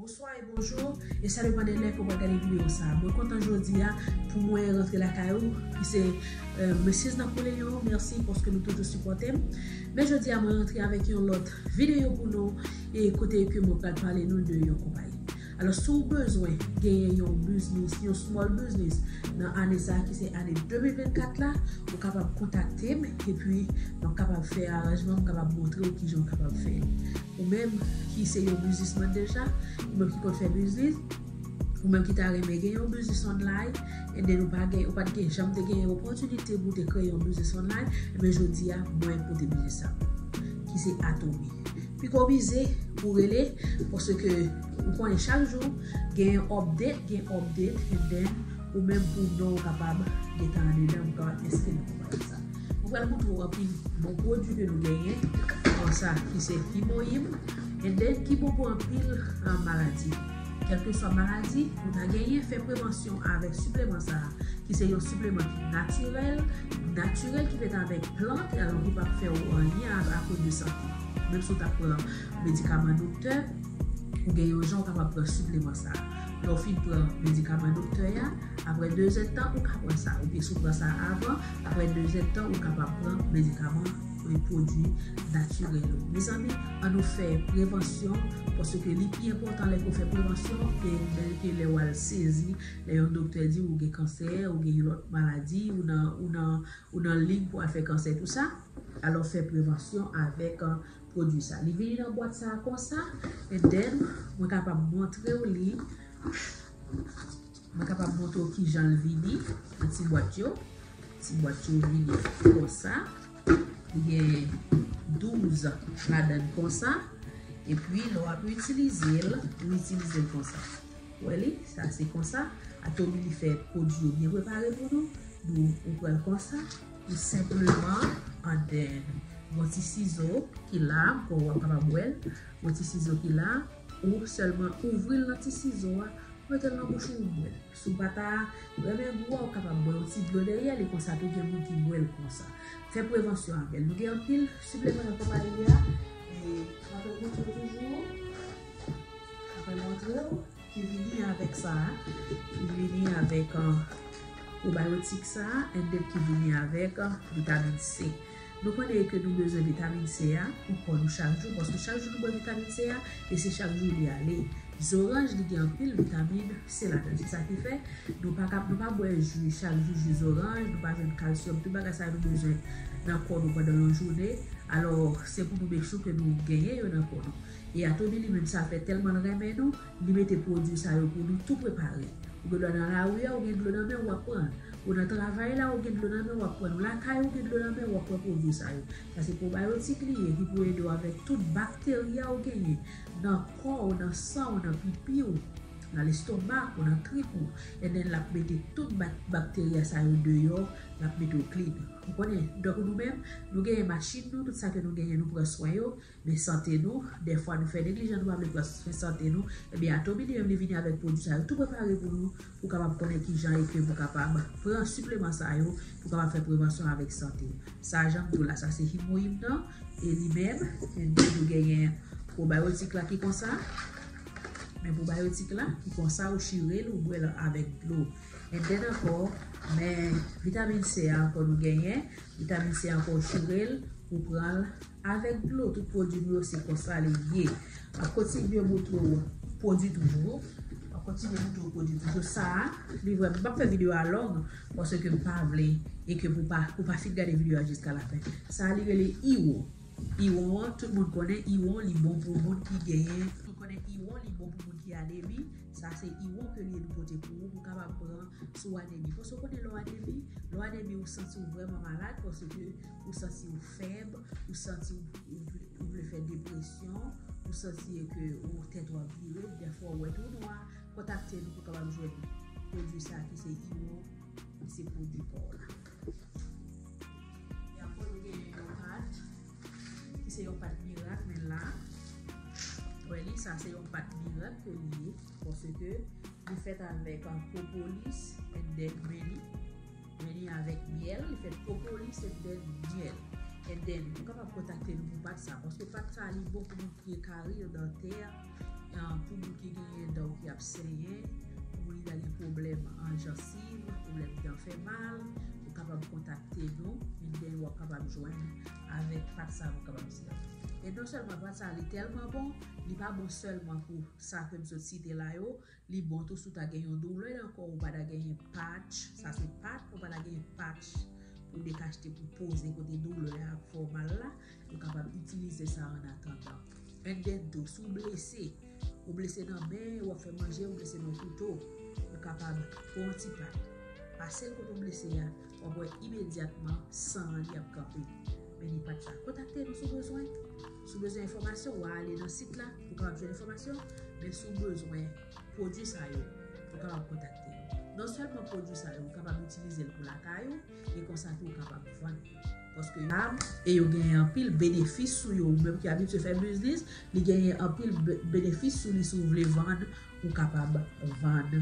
Bonswa e bonjou e sa depan de lè ke w ap gade videyo sa. Mwen kontan jodi a pou mwen rantre lakay ou ki se Mrs Napoleon. Mèsi paske nou toujou sipòte m. Men jodi a mwen rantre avèk yon lòt videyo pou nou e kote ke mwen pral pale nou de yon konpayi. Alòs si w bezwen genyen yon biznis, yon small biznis nan ane sa ki se ane 2024 la, ou kapab kontakte m epi m ap kapab fè aranjman, m kapab montre w kijan ou kapab fè l. Ou menm ki se yon biznisman deja, ou menm ki konn fè biznis, ou menm ki ta renmen gen yon biznis online, and then ou pa gen, ou pat gen janm te gen yon opòtinite pou te kreye yon biznis online, enben jodi a mwen pote biznis sa pou ou, ki se Atomy. Piko bize pou rele, paske ou konnen chak jou gen yon update, gen update, and then ou menm pou non ou kapab gen tan andedan, ou kapab enskri nan konpayi sa. Mwen pral montre w anpil bon pwodwi ke nou genyen kon sa ki se pi bon yim and then ki bon pou anpil maladi. Kelke swa maladi ou ta genyen fè prevansyon avèk sipleman sa a ki se yon sipleman ki natirèl, natirèl ki fèt avèk plant e alon ki pap fè ou anyen a koz de sante. Menm si ou ta pran medikaman doktè ou gen yon jan ou kapab pran sipleman sa a. Lè ou fin pran medikaman doktè a aprè 2 zèdtan ou ka pran sa oubyen si ou pran sa avan. Aprè 2 zèd tan ou kapab pran medikaman e pwodwi natirèl yo. Mezanmi an nou fè prevansyon paske li pi enpòtan lè ke w fè prevansyon ke bèl ke lè wal sezi lè yon doktè di ou gen kansè ou gen yon lòt maladi ou nan ou nan ou nan lig pou al fè kansè tou sa alò fè prevansyon avèk pwodwi sa li vini nan bwat sa konsa and then mwen kapab montre w li. Mwen kapab montre w ki jan l vini nan ti bwat yo. Ti bwat yo vini konsa. Li gen 12 ladan l konsa. E pi lè w ap itilize l, ou itilize l konsa. Ou wè li? Sa se konsa. Atomy li fè pwodui yo byen prepare pou nou. Nou ou pran l konsa. Ou senpleman an den. Gon ti sizo ki la. Ou kapab wè l. Gon ti sizo ki la. Ou sèlman ouvri l nan ti sizo a. Metel nan bouch ou bwèl. Si w pa ta renmen gou a ou kapab bwè yon ti dlo dèyèl e konsa tou gen moun ki bwèl konsa. Fè prevansyon avèl. Nou gen anpil sipleman nan konpayi a e apre gou dlo toujou apre m montre w ki vini avèk sa a ki vini avèk pwobayotik sa a and ki vini avèk vitamin C. Nou konnen ke nou bezwen vitamin C a pou kò nou chak jou paske chak jou nou bwè vitamin C a e se chak jou li ale. Zoranj li gen anpil vitamin C ladann se sa ki fè nou pa ka nou pa bwè ju chak jou ju zoranj nou pa jwenn kalsyòm tout bagay sa yo nou bezwen nan kò nou pandan yon joune alò se pou nou make sure ke nou genyen yo nan kò nou e Atomy li menm sa fè tèlman l renmen nou Li mete pwodui sa yo pou nou tou prepare. Ou gen dlo nan lari a ou gen dlo nan men ou wap pran l. Ou nan travay la ou gen dlo nan men ou wap pran l. Ou lakay ou gen dlo nan men ou wap pran pwodui sa yo. Sa se pwobayotik li ye ki pou ede w avèk tout bakteria ou genyen nan kò ou, nan san ou, nan pipi ou, nan lestomak ou, nan trip ou. Ebyen l ap mete tout bakteria sa yo deyò, l ap mete w klin. Ou konnen, donk nou menm, nou genyen machin nou, tout sa ke nou genyen nou pran swen yo. de sante nou, dèfwa nou fè neglijan nou pa vle pran swen sante nou, ebyen Atomy li menm li vini avèk pwodwi sa yo tou prepare pou nou, pou kapab konnen kijan e ke pou kapab pran sipleman sa yo pou kapab fè prevansyon avèk sante w. Sa jan m di w la sa se Himoim nan e li menm li toujou genyen pwobayotik la ki konsa, men pwobayotik la ki konsa ou chire l ou bwè l avèk dlo. And then ankò men vitamin C a ankò nou genyen, vitamin C a ankò ou chire l ou pran l. Avèk dlo tout pwodwi m yo se konsa li ye. Map kontinye moutre w pwodwi toujou. Map kontinye moutre w pwodwi toujou. Sa a li vrèman, m pap fè videyo a long paske m pa vle e ke pou ou pa fin gade videyo a jiska la fen. Sa a li rele Iwo. Iwo an tout moun konnen Iwo li bon pou moun ki genyen. Tout moun konnen Iwo li bon pou moun ki anemi. Sa a se Iwo ke li e nou pote pou ou pou w kapab pran si w anemi. Paske w konnen lè w anemi, lè w anemi ou santi w vrèman malad paske ou santi w. fèb, ou santi ou vle fè depresyon, ou santi e ke ou tèt wap vire, dèfwa ou wè tou nwa, kontakte nou pou kapab jwenn pwodwi sa ki se imo, ki se pwodwi pa w la. Epi nou gen yon pat, ki se yon pat mirak men la, wè li sa se yon pat mirak ke li ye, pwosè ke li fèt avèk an propolis, et dèk meni, Vini avèk myèl, li fèt propolis and then myèl. And then ou kapab kontakte nou pou pat sa paske pat sa li bon pou moun ki gen karir dantè, pou moun ki genyen dan ki ap senyen, pou moun ki ta gen pwoblèm an jansiv, pwoblèm dan fè mal, ou kapab kontakte nou and then wap kapab jwenn avèk pat sa nou kapab di a. E non sèlman pat sa li tèlman bon, li pa bon sèlman pou sa ke m sot site la yo, Li bon tou si w ta gen yon doulè nan kò w ou pa ta genyen patch, sa se pat, ou pa ta genyen patch pou dekachte pou poze kote doulè a ap fè w mal la, ou kapab itilize sa an atandan. An den tou, si w blese, ou blese nan men, ou ap fè manje, ou blese nan kouto, ou kapab pran yon ti pat, pase l kote w blese a, W ap wè imedyatman san an li ap kanpe. Men li pa t la. Kontakte nou si w bezwen. Si w bezwen enfòmasyon, w a ale nan sit la pou w kapab jwenn enfòmasyon. Men si w bezwen pwodui sa yo, ou kapab kontakte nou. Non sèlman pwodui sa yo, ou kapab itilize l pou lakay ou e konsa tou ou kapab vann li. Paske yo rab e yo genyen anpil benefis sou yo. Ou menm ki abitye fè biznis, li genyen anpil benefis sou li si w vle vann, ou kapab vann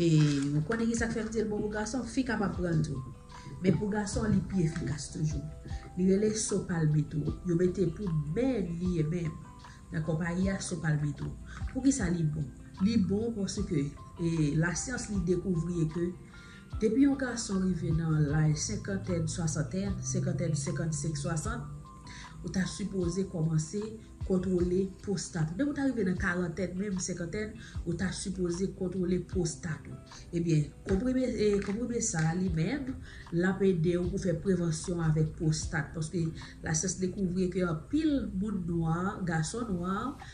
E ou konnen ki sa k fè m di l bon pou gason? Fi kapab pran l tou. Men pou gason li pi efikas toujou. Li rele So Palmetto. Yo mete pou men li e men. Nan konpayi a So Palmetto. Pou ki sa li bon? Li bon paske e lasyans li dekouvri e ke depi yon gason rive nan laj senkantèn, swasantèn, senkantèn, senkant, senk, swasant, Ou ta sipoze kòmanse kontwole pwostat ou. Depi ou ta rive nan karantèn menm, senkantèn, ou ta sipoze kontwole pwostat ou. Ebyen, konprime sa a li menm, l ap ede ou pou fè prevansyon avèk pwostat. Paske lasyans dekouvri ke anpil moun nwa, gason nwa,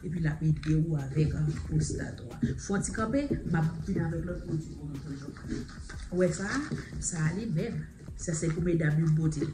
Epi lap ede ou avek prostate ou a. Fon ti kanpe, map vin avek lot pwodwi pou nou toujou. Ou we sa, sa a li menm. Sa se pou medam yo pote.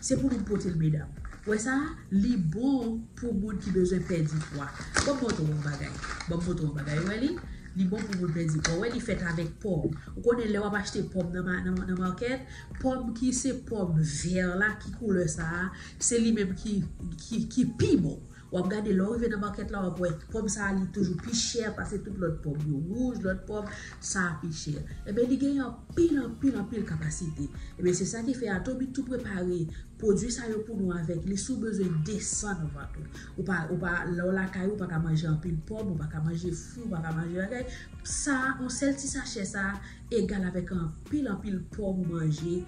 Se pou nou pote l medam. Ou we sa a, li bon pou moun ki bezwen pedi pwa. Bon m montre w yon bagay. Bon m montre w yon bagay. Ou we li? Li bon pou moun pedi pwa. Ou we li fet avek pom. Ou konnen le wap achte pom nan market, pom ki se pom ver la ki koule sa a, se li menm ki pi bon. Wap gade lè w rive nan market la wap wè pòm sa li toujou pi chè pase tout lòt pòm yo wouj lòt pòm sa pi chè enben li genyen anpil anpil anpil kapasite enben se sa ki fè atomy tou prepare pwodwi sa yo pou nou avèk li si w bezwen desann vant ou ou pa ou pa lè w lakay ou ou pa ka manje anpil pòm ou pa ka manje fwi ou pa ka manje bagay sa yon sèl ti sachè sa egal avèk anpil anpil pòm ou manje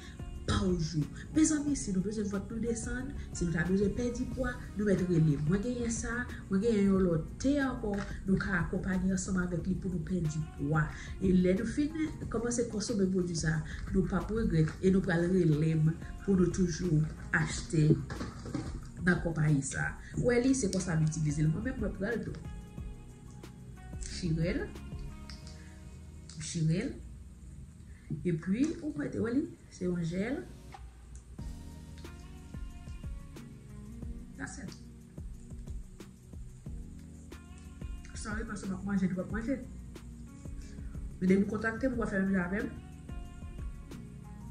Paw jou. Mezanmi si nou bezwen vant nou desann, si nou ta bezwen pèdi pwa, nou mèt relem. Mwen genyen sa, mwen genyen yon lòt te ankò nou ka akonpanye ansanm avèk li pou nou pèdi pwa. E lè nou fin kòmanse konsome pwodwi sa, nou pap regrèt e nou pral relem pou nou toujou achte nan konpayi sa. Welly se konsa m itilize l mwen menm mwen pranl tou. M chirel. M chirel. E pwi ou mèt wè li se yon jèl. That's it. Sorry paske map manje li pap manje. Men depi ou kontakte m ou wè fè menm jan avè m.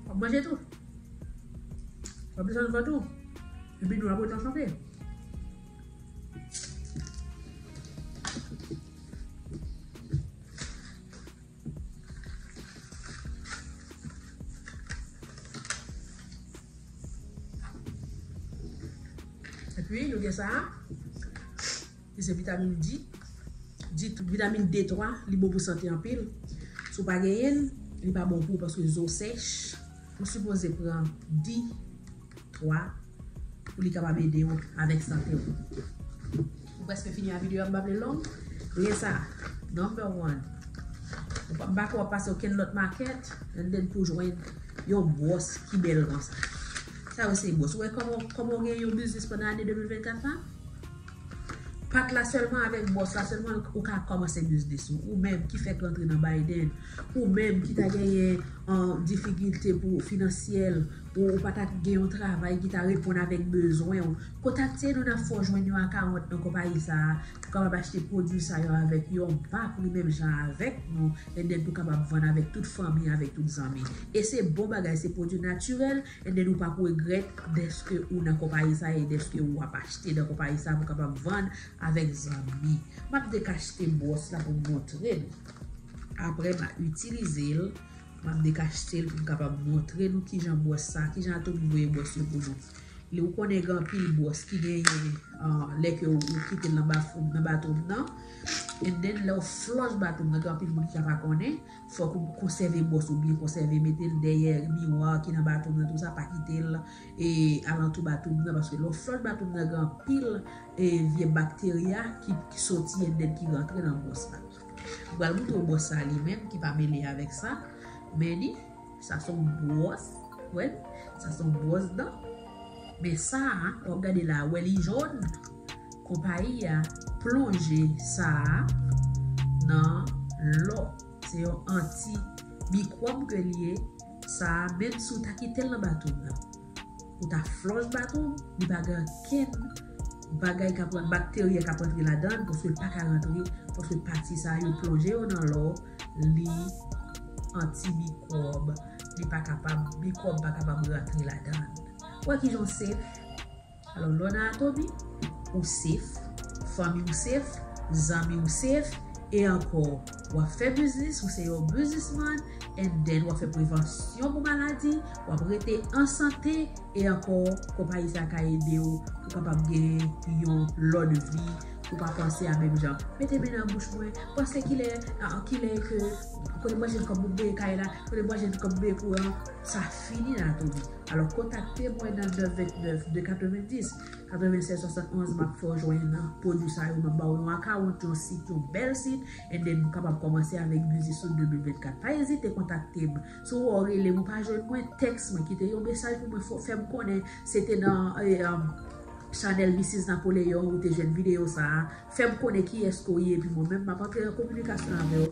Wap manje tou. Wap desann vant ou. E pi nou ap rete an sante. Epi nou gen sa a, ki se vitamin D. D, vitamin D3, li bon pou sante anpil. Sou pa genyen, li pa bon pou paske zo sèch. Ou sipoze pran D. 3, Pou li kapab ede w avèk sante w. M prèske fini a video a m pa vle l long. Gen sa a Number 1 Ou pap bak wap pase okenn lòt makèt and then pou jwenn yon bwòs ki bèl konsa. Sa yo se bwòs. Ou wè kòman ou gen yon biznis pandan ane 2024 la? Pat la sèlman avèk bwòs la sèlman ou ka kòmanse biznis ou. Ou menm ki fèk rantre nan Biden. Ou menm ki ta genyen difikilte pou finansyèl. Ou pa ta gen yon travay ki ta reponn avèk bezwen ou? Kontakte nou n ap fè w jwenn yon akawont nan konpayi sa a pou w kapab achte pwodui sa yo avèk yon ba pri menm jan avèk nou and then pou w kapab vann avèk tout fanmi avèk tout zanmi e se bon bagay se pwodui natirèl and then ou pa p regrèt dèske ou nan konpayi sa a e dèske ou ap achte nan konpayi sa a pou w kapab vann avèk zanmi m ap dekachte bwòs la pou m montre nou aprè m a itilize l. M ap dekachte l pou m kapab montre nou kijan bwòs sa, kijan Atomy voye bwòs yo pou nou. Li ou konnen gen anpil bwòs ki genyen lè ke ou kite l nan bafouw nan bathroom nan. And then lè ou flush bathroom nan gen anpil moun ki ka pa konnen, fòk ou konsève bwòs ou byen konsève, mete l dèyè miwa ki nan bathroom nan tou sa, pa kite l alantou bathroom nan paske lè ou flush bathroom nan gen anpil vye bacteria ki soti and then ki rantre nan bwòs la. Li pral montre w bwòs sa li menm ki pa mele avèk sa. Men li, sa son bwòs. Wè l? Sa son bwòs dan. Men sa a, w ap gade la a, wè li jòn? Konpayi a plonje sa a nan lò. Se yon anti mikwòb ke li ye. Sa a, menm si w ta kite l nan bato w la. Ou ta flòch bat ou, li pa gen ankenn bagay k ap rantre, bakterye k ap rantre ladan l paske l pa ka rantre paske pati sa yo plonje yo nan lò, li anti-mikwòb, li pa kapab, mikwòb pa kapab rantre ladan l. Wè kijan w sef! Alò lè w nan Atobi, ou sef, fanmi w sef, zanmi w sef, e ankò w ap fè biznis, ou se yon biznisman, and then w ap fè prevansyon pou maladi, w ap rete an sante, e ankò konpayi sa ka ede w pou w kapab gen yon lòt vi, ou pa panse a menm jan mete men nan bouch mwen, panse kilè kilè ke kote m pral jwenn kòb pou m peye kay la, kote m pral jwenn kòb pou m peye kouran, sa fini nan Atobi. Alò kontakte mwen nan 9 29 2 90 96 71 map fè w jwenn nan pwodwi sa yo map ba w yon akawont yon sit yon bèl sit and then ou kapab kòmanse avèk biznis ou 2024 pa ezite kontakte m si w wè w rele m ou pa jwenn mwen tèks mwen kite yon mesaj pou mwen fè m konnen se te nan chanèl Missis Napoleon ou te jwenn videyo sa a fè m konnen kiyès ke w ye epi mwen menm map antre an kominikasyon avè w